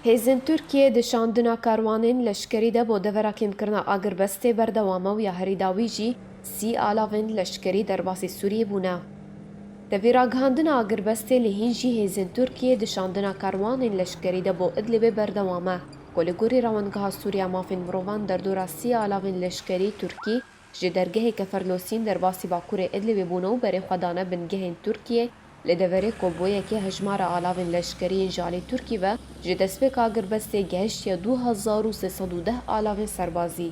Hêzên Tirkiyê di şandina karwanên leşkerî de bo devera kêmkirina agirbestê berdewam e û ya herî dawî jî sî alavên leşkerî derbasî Sûriyê bûne. Di vî ragihandina agirbestê lê hîn jî hêzên Tirkiyê di şandina karwanên leşkerî de bo Idlibê berdewam e ku li gorî rewandgeha Sûriya Mafên Mirovan derdora sî alavên leşkerî Tirkî Ji dergehê Keferlosîn derbasî Bakurê Idlibê bûne û berê xwe dane bingehên Tirkiyê, lê deverê ku bo yekê hejmara alavên leşkerî yên ji alî Tirkî ve ji destpêk agirbestê gehiştiye du hezar û sê sed û deh alavên serbazî.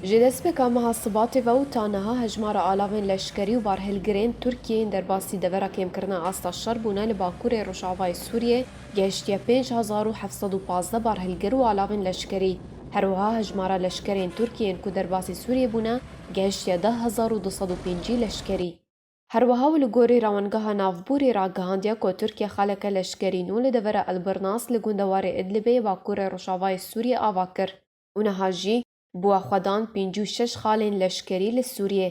Ji destpêka meha Sibatê ve û ta niha hejmara alavên leşkerî û barhilgirên Tirkiyê yên derbasî devera kêmkirina asta şer bûne li Bakurê Rojavayê Sûriyê gehiştiye pênc hezar û heft sed û pazdeh barhilgir û alavên leşkerî. Her wiha hejmara leşkerên Tirkiyê yên ku derbasî Sûriyê bûne gehiştiye deh hezar û du sed û pêncî leşkerî. Her wiha û li gorî Rawengeha Navbûrî ragihandiye ku Tirkiye xaleke leşkerî nû li devera El Birnas li gunda warê Idlibê yê bakurê rojavayê Sûriyê ava kir û niha jî bûye xwedan pêncî û şeş xalên leşkerî li Sûriyê.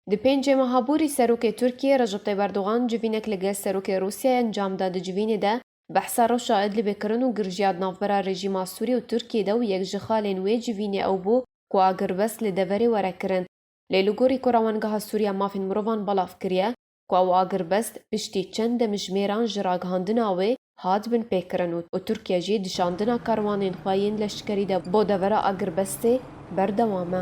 Di pêncê meha borî Serokê Tirkiyê Recep Tayib Erdogan civînek li gel Serokê Rûsyayê encam da di civînê de Behsa reşa Idlibê kirin û girjiya di navbera rejîma Sûrî û Tirkiyê de û yek ji xalên wê civînê ew bû ku a girbest li deverê were kirin. Lê li gorî ku Rawengeha Sûrî ya Mafên Mirovan belav kiriye ku ew a girbest piştî çend demijmêran ji ragihandina wê hat binpêkirin û Tirkiye jî dişandina karwanên xwe yên leşkerî de bo devera agirbestê berdewam e.